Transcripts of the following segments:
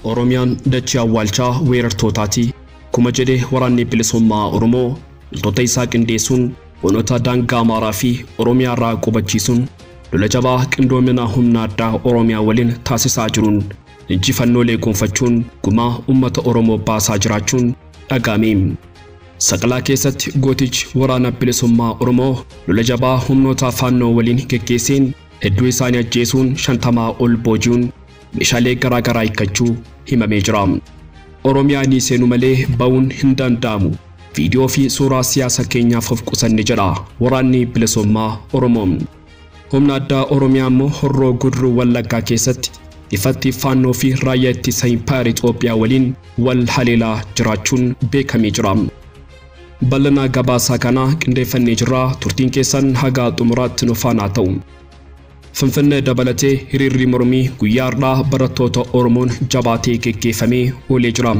Oromiyaan dachee awwaalchaa weerartootaati. Akkuma jedhe Waraanni Bilisummaa Oromoo loltoota isaa qindeessuun Onoota daangaa Amaaraa fi Oromiyaa irraa qubachiisuun lola jabaa qindoomina humna addaa Oromiyaa waliin taasisaa jiruun injifannoolee gonfachuun gumaa uummata Oromoo baasaa jiraachuun dhaga'ame. Saqalaa keessatti gootichi Waraana Bilisummaa Oromoo lola jabaa humnoota Faannoo waliin geggeesseen hedduu isaanii ajjeesuun shantamaa ol booji'uun meeshaalee garaa garaa hiikkachuu himamee jira. Oromiyaa ni seenu malee ba'uun hin danda'amu. Viidiyoo fi suuraa siyaasa keenyaaf of qusanne jedha waraanni bilisummaa Oromoo. Humna addaa Oromiyaa immoo horroo guduruu wallaggaa keessatti ifatti faannoo fi raayyaa ittisa impaayar Itoophiyaa waliin wal haleelaa jiraachuun beekamee jira. Bal'inaa gabaasaa kana qindeeffannee jirra turtiin keessan hagaa xumuraatti nu faanaa ta'u. Finfinnee dabalatee hiriirri mormii guyyaa har'aa barattoota Oromoon jabaatee geggeeffamee oolee jira.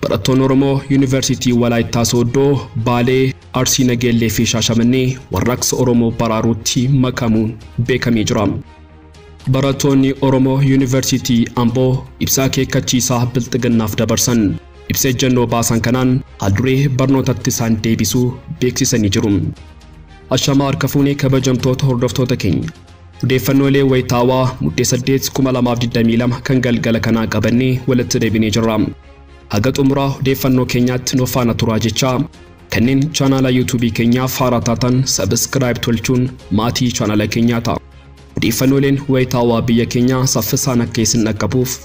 Barattoonni Oromoo Yuunivarsiitii Walaayittaa Sooddoo, Baalee, Arsii Nageellee fi Shaashamannee warraaqsa Oromoo baraaruutti makamuun beekamee jira. Barattoonni Oromoo Yuunivarsiitii Amboo ibsa akeekkachiisaa Bilxiginnaaf dabarsan. Ibsa ejjennoo baasan kanaan haalduree barnootatti isaan deebisuu beeksisanii jiru. Ashamaa harka fuunee kabajamtoota hordoftoota keenya. Odeeffannoolee wayitaawaa Muddee 8, 2022 kan galgala kanaa qabannee walitti deebinee jirra. Haga xumuraa odeeffannoo keenyaatti nu faana turaa jechaa kanneen chaanaala YouTube keenyaaf haaraa taatan subscribe tolchuun maatii chaanaala keenyaa ta'a. Odeeffannooleen wayitaawaa biyya keenyaa saffisaan akka isin dhaqqabuuf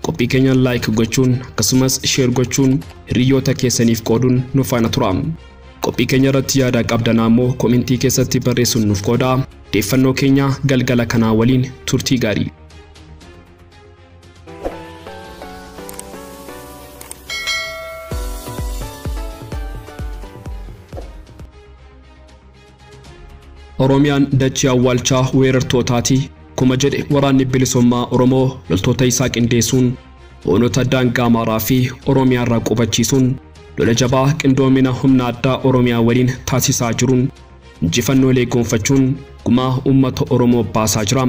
qophii keenyaan like gochuun akkasumas share gochuun hiriyoota keessaniif qooduun nu faana turaa. Qophii keenya irratti yaada qabdan ammoo komentii keessatti barreessuun nuuf qoodaa. Deeffannoo keenya galgala kanaa waliin turtii gaarii. Oromiyaan dachii awwaalchaa weerartootaati akkuma jedhe Waraanni Bilisummaa Oromoo loltoota isaa qindeessuun Onoota daangaa Amaaraa fi Oromiyaa irraa qubachiisuun lola jabaa qindoomina humna addaa Oromiyaa waliin taasisaa jiruun injifannoolee goonfachuun gumaa uummata Oromoo baasaa jira.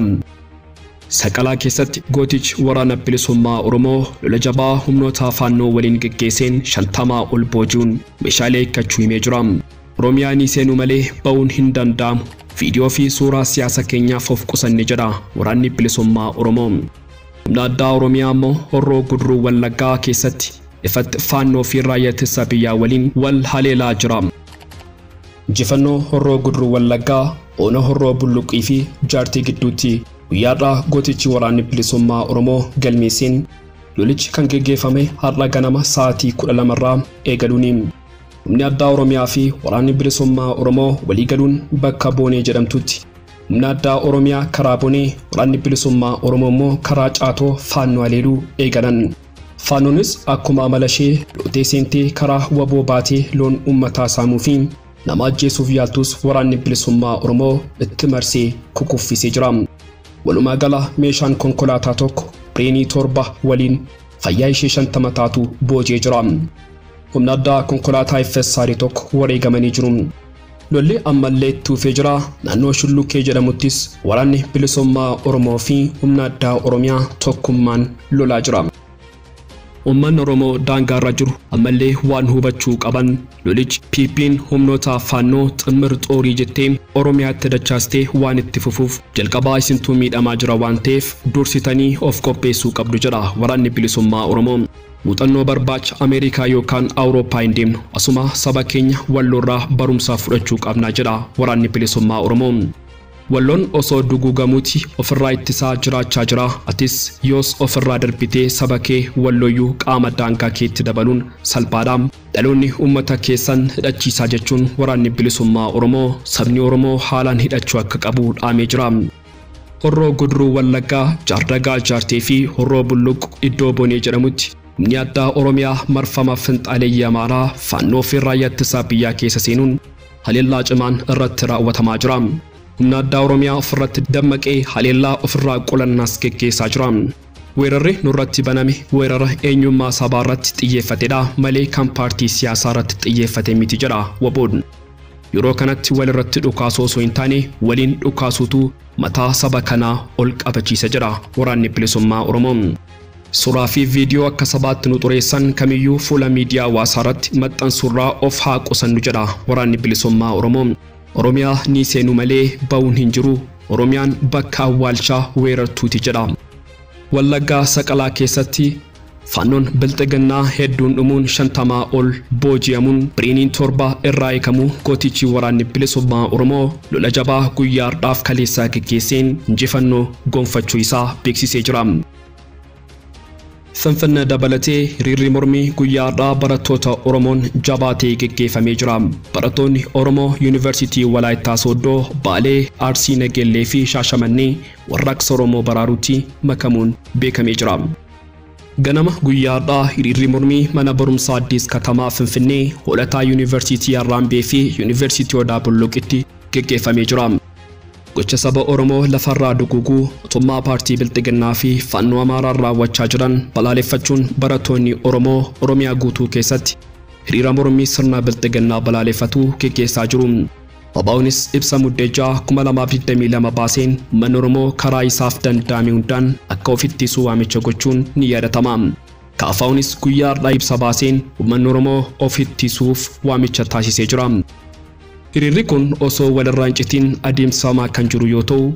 Saqalaa keessatti gootichi Waraana Bilisummaa Oromoo lola jabaa humnoota Faannoo waliin geggeesseen 50 ol booji'uun meeshaalee hiikkachuu himee jira. Oromiyaa ni seenu malee ba'uun hin danda'amu. Viidiyoo fi suuraa siyaasa keenyaaf of qusanne jedha waraanni bilisummaa Oromoo. Humna addaa Oromiyaa ammoo Horroo Guduruu Wallaggaa keessatti ifatti Faannoo fi Raayyaa Ittisa Biyyaa waliin wal haleelaa jira. Injifannoo Horroo Guduruu Wallaggaa Ona Horroo Bulluqii fi Jaartii gidduutti guyyaa har'aa gootichi waraanni bilisummaa Oromoo galmeesseen lolichi kan geggeeffame har'a ganama sa'aatii 12 irraa eegaluuni. Humni addaa Oromiyaa fi waraanni bilisummaa Oromoo waliigaluun bakka Boonee jedhamtutti humna addaa Oromiyaa karaa Bonee, waraanni bilisummaa Oromoo immoo karaa Caatoo Faannoo haleeluu eegalan. Faannoonis akkuma amala ishee lootee seentee karaa waboo baatee loon uummataa saamuu fi nama ajjeesuuf yaaltus waraanni bilisummaa Oromoo itti marsee kukuffisee jira. Walumaa gala meeshaan konkolaataa tokko, bireenii torba waliin fayyaa ishee shantama taatu booji'ee jira. Humna addaa konkolaataa FSR 1 wareegamanii jiru. Lolli ammallee itti fufee jira. Naannoo Shullukkee jedhamuttis waraanni bilisummaa Oromoo fi humna addaa Oromiyaa tokkummaan lolaa jira. Uummanni Oromoo daangaarra jiru ammallee waan hubachuu qaban lolichi PP'n humnoota Faannoo Ximmir Xoorii jettee Oromiyaatti dachaastee waan itti fufuuf jalqabaa isintuu miidhamaa jira waan ta'eef dursitanii of qopheessuu qabdu jedha Waraanni Bilisummaa Oromoo. Muuxannoo barbaacha Ameerikaa yookaan Awurooppaa hin deemnu. Asuma saba keenya Walloorraa barumsa fudhachuu qabna jedha Waraanni Bilisummaa Oromoo. Walloon osoo duguugamuuti ofirraa ittisaa jiraachaa jira. Atis yoos ofirraa darbitee saba kee Wallooyyuu qaama daangaa keetti dabaluun salphaadha. Dhaloonni uummata keessan hidhachiisaa jechuun Waraanni Bilisummaa Oromoo sabni Oromoo haalaan hidhachuu akka qabu dhaamee jira. Horroo Guduruu Wallaggaa Jaardagaa Jaartee fi Horroo Bulluq iddoo Bonee jedhamutti humni addaa Oromiyaa marfama finxaaleyyii Amaaraa Faannoo fi Raayyaa Ittisa Biyyaa keessa seenuun haleellaa cimaan irratti raawwatamaa jira. Humna addaa Oromiyaa ofirratti dammaqee haleellaa ofirraa qulannaas geggeessaa jira. Weerarri nurratti baname weerara eenyummaa sabaa irratti xiyyeeffatedha malee kan paartii siyaasaa irratti xiyyeeffate miti jedha wbo. Yeroo kanatti wal irratti dhukaasuu osoo hin taane waliin dhukaasuutu mataa saba kanaa ol qabachiisa jedha Waraanni Bilisummaa Oromoo. Suuraa fi viidiyoo akka sabaatti nu xureessan kamiyyuu fuula miidiyaa hawaasaa irratti maxxansuurraa of haa qusannu jedha Waraanni Bilisummaa Oromoo. Oromiyaa ni seenu malee ba'uun hin jiru. Oromiyaan bakka awwaalchaa weerartuuti jedha. Wallaggaa Saqalaa keessatti Faannoon Bilxiginnaa hedduun dhumuun 50 ol booji'amuun biriiniin 7 irraa hiikamuu gootichi Waraanni Bilisummaa Oromoo lola jabaa guyyaa hardhaaf kaleessaa geggeesseen injifannoo gonfachuu isaa beeksisee jira. Finfinnee dabalatee hiriirri mormii guyyaa hardhaa barattoota Oromoon jabaatee geggeeffamee jira. Barattoonni Oromoo Yuunivarsiitii Walaayittaa Sooddoo, Baalee, Arsii Nageellee fi Shaashamannee warraaqsa Oromoo baraaruutti makamuun beekamee jira. Ganama guyyaa har'aa hiriirri mormii mana barumsaa Addis Katamaa Finfinnee hoolataa Yuunivarsiitii Harraambee fi Yuunivarsiitii Odaa Bulluqitti geggeeffamee jira. Gocha saba Oromoo lafarraa duguuguu mootummaa paartii Bilxiginnaa fi Faannoo Amaaraan raawwachaa jiran balaaleffachuun barattoonni Oromoo Oromiyaa guutuu keessatti hiriira mormii sirna Bilxiginnaa balaaleffatu geggeessaa jiru. Wabaunis ibsa Muddee 6, 2022 baaseen ummanni Oromoo karaa isaaf danda'ame hundaan akka of ittisuu waamicha gochuun ni yaadatama. KFOnis guyyaa hardhaa ibsa baaseen ummanni Oromoo of ittisuuf waamicha taasisee jira. Hiriirri kun osoo wal irraa hin citiin adeemsifamaa kan jiru yoo ta'u,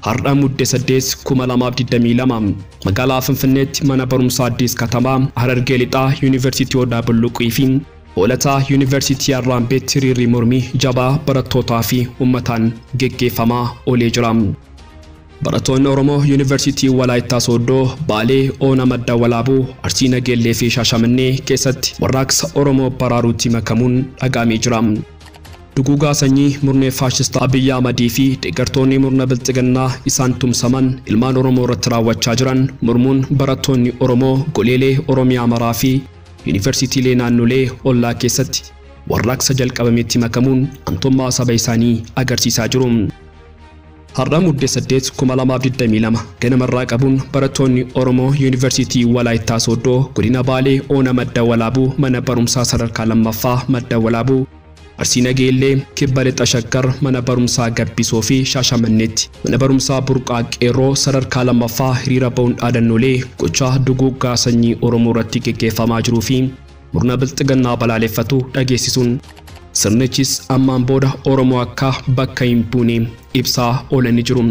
hardha Mudde 8, 2022 magaalaa Finfinneetti mana barumsaa Addis Katamaa, Harargee Lixaa, Yuunivarsiitii Odaa Bulluqii fi Hoolata Yuunivarsiitii Arraambeetti hiriirri mormii jabaa barattootaa fi ummataan geggeeffamaa olee jira. Barattoonni Oromoo Yuunivarsiitii Walaayittaa Sooddoo, Baalee, Oona Madda Walaabuu, Arsii Nageellee fi Shaashamannee keessatti warraaqsa Oromoo baraaruutti makamuun dhaga'amee jira. Duguugaa sanyii murni faashista Abiy Ahmadii fi deeggartoonni murna Bilxiginnaa isaan tumsaman ilmaan Oromoo irratti raawwachaa jiran mormuun barattoonni Oromoo goleelee Oromiyaa maraa fi Yunivarsiitiilee naannolee ollaa keessatti warraaqsa jalqabametti makamuun antummaa saba isaanii agarsiisaa jiru. Har'a Mudde 8, 2022 ganama irraa qabuun barattoonni Oromoo Yunivarsiitii Walaayittaa Sooddoo Godina Baalee Ona Madda Walaabuu Mana Barumsaa Sadarkaa 2ffaa Madda Walaabuu Arsii Nageellee, Kibba Lixa Shaggar Mana Barumsaa Gabbisoo fi Shaashamanneetti Mana Barumsaa Burqaa Qeerroo sadarkaa 2ffaa hiriira ba'uun dhaadannoolee gochaa duguuggaa sanyii Oromoo irratti geggeeffamaa jiruu fi murna Bilxiginnaa balaaleffatu dhageessisuun sirnichis ammaan booda Oromoo akka bakka hin buune ibsaa oolanii jiru.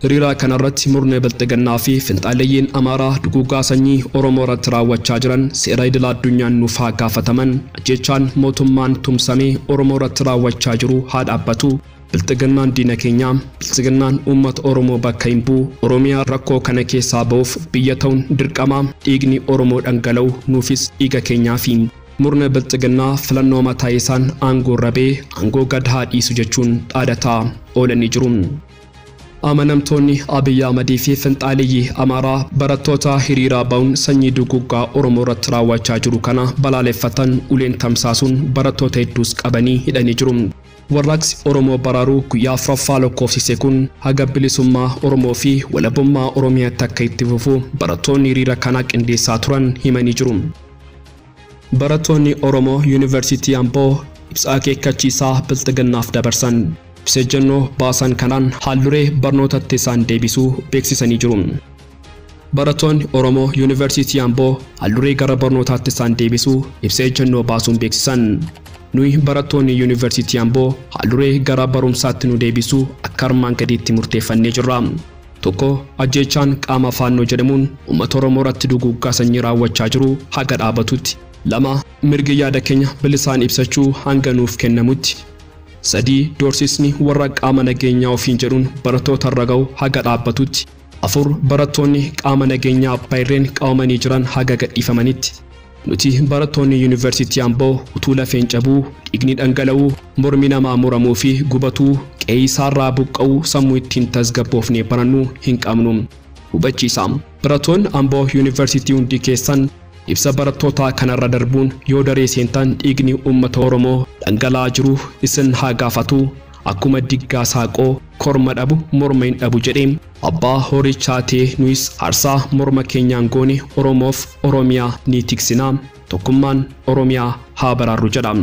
Hiriira kanarratti murni Bilxiginnaa fi finxaaleyyiin Amaaraa duguuggaa sanyii Oromoo irratti raawwachaa jiran seera idila addunyaan nuuf haa gaafataman, ajjeechaan mootummaan tumsamee Oromoo irratti raawwachaa jiru haa dhaabbatu, Bilxiginnaan diina keenya, Bilxiginnaan uummata Oromoo bakka hin bu'u, Oromiyaa rakkoo kana keessaa ba'uuf biyya ta'uun dirqama, dhiigni Oromoo dhangala'u nuufis dhiiga keenyaafi. Murni Bilxiginnaa filannoo mataa isaan aangoorra ba'e aangoo gad haa dhiisu jechuun dhaadataa oolanii jiru. Amanamtoonni Abiy Ahmad fi finxaaleyyii Amaaraa barattoota hiriiraa ba'uun sanyii duguuggaa Oromoo irratti raawwachaa jiru kana balaaleffatan uleen tamsaasuun barattoota hedduus qabanii hidhanii jiru. Warraaqsi Oromoo baraaruu guyyaa 4ffaa lokkoofsise kun haga bilisummaa Oromoo fi walabummaa Oromiyaatti akka itti fufu barattoonni hiriira kana qindeessaa turan himanii jiru. Barattoonni Oromoo Yuunivarsiitii Amboo ibsa akeekkachiisaa Bilxiginnaaf dabarsan. Ibsa ejjennoo baasan kanaan haalduree barnootatti isaan deebisuu beeksisanii jiru. Barattoonni Oromoo Yuunivarsiitii Amboo haalduree gara barnootaatti isaan deebisuu ibsa ejjennoo baasuun beeksisan. Nuyi barattoonni Yuunivarsiitii Amboo haalduree gara barumsaatti nu deebisuu akka armaan gadiitti murteeffannee jirra. 1, Ajjeechaan qaama Faannoo jedhamuun ummata Oromoo irratti duguuggaa sanyii raawwachaa jiru haga dhaabatutti. 2, Mirgi yaada keenya bilisaan ibsachuu hanga nuuf kennamutti. 3, Doorsisni warra qaama nageenyaa ofiin jedhuun barattoota irra ga'u haga dhaabbatutti. 4, Barattoonni qaama nageenyaa abbaa irreen qabamanii jiran haga gadhiifamanitti. Nuti barattoonni Yuunivarsiitii Amboo utuu lafeen cabuu, dhiigni dhangala'uu, mormi namaa muramuu fi gubatuu, qe'ee isaarraa buqqa'uu sammuu ittiin tasgabboofnee barannu hin qabnu. Hubachiisa, Barattoonni Amboo Yuunivarsiitii hundi keessan ibsa barattootaa kanarra darbuun yoo daree seentan dhiigni uummata Oromoo dhangala'aa jiru isin haa gaafatu. Akkuma diggaa saaqoo korma dhabu morma hin dhabu jedhe. Abbaa horii chaatee nuyis aarsaa morma keenyaan goone Oromoof Oromiyaa ni tiksina. Tokkummaan Oromiyaa haa baraarru jedha.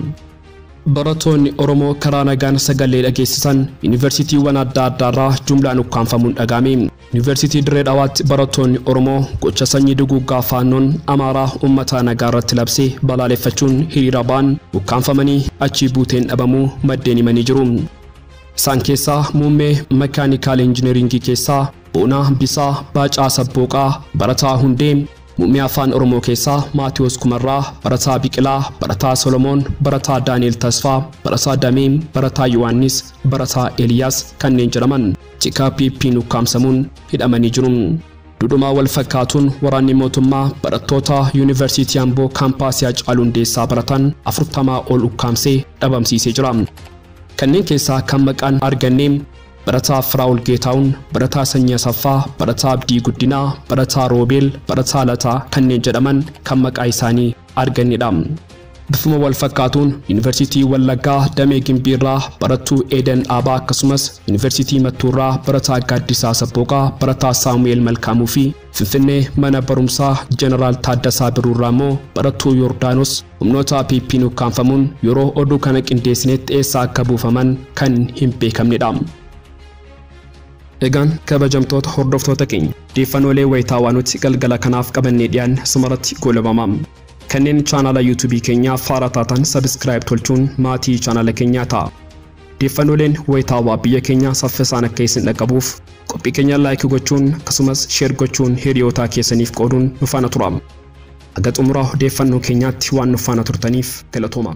Baratoonni Oromoo karaa nagaan sagalee dhageessisan Yuunivarsiitiiwwan adda addaarraa jumlaan ukkaamfamuun dhaga'ame. Yuunivarsiitii Dirree Dhawaatti barattoonni Oromoo gocha sanyii duguuggaa Faannoon Amaaraa uummataa nagaa irratti labse balaaleffachuun hiriira ba'an ukkaamfamanii achii buuteen dhabamuu maddeen himanii jiru. Isaan keessaa muummee Makaanikaal Injineriingii keessaa Boonaa Bisaa, Baacaa Sabbooqaa, barataa Hundee, muummee Afaan Oromoo keessaa Maatiwoos Kumarraa, barataa Biqilaa, barataa Solomoon, barataa Daani'eel Tasfaa, barataa Damee, barataa Yohaannis, barataa Eliyaas kanneen jedhaman. Tikaa PP'n ukkaamsamuun hidhamanii jiru. Dudhuma wal fakkaatuun waraanni mootummaa barattoota Yuunivarsiitii Amboo kaampaasii Hacaaluu Hundeessaa baratan 40 ol ukkaamsee dhabamsiisee jira. Kanneen keessaa kan maqaan arganne barataa Firaa'ol Geetaawun, barataa Sanyii Asaffaa, barataa Abdii Guddinaa, barataa Roobeel, barataa Lataa kanneen jedhaman kan maqaa isaanii argannedha. Bifuma wal fakkaatuun Yuunivarsiitii Wallaggaa Damee Gimbiirraa barattuu Eedan Dhaabaa akkasumas Yuunivarsiitii Mattuurraa barataa Gaaddisaa Sabbooqaa, barataa Saamu'eel Malkaamuu fi Finfinnee mana barumsaa Jeneraal Taaddasaa Birruurraa immoo barattuu Yordaanos humnoota PP'n ukkaamfamuun yeroo oduu kana qindeessinetti eessa akka buufaman kan hin beekamnedha. Egaan kabajamtoota hordoftoota keenya odeeffannoolee wayitaawaa nuti galgala kanaaf qabannee dhiyaanne asumarratti goolabama. Kanneen chaanala YouTube keenyaa faara taatan subscribe tolchuun maatii chaanala keenyaa ta'a. Deeffannooleen wayitaawaa biyya keenyaa saffisaan akka isin dhaqqabuuf qophii keenya like gochuun akkasumas share gochuun hiriyootaa keessaniif qooduun nu faana tura. Haga xumura odeeffannoo keenyaatti waan nu faana turtaniif galatoomaa.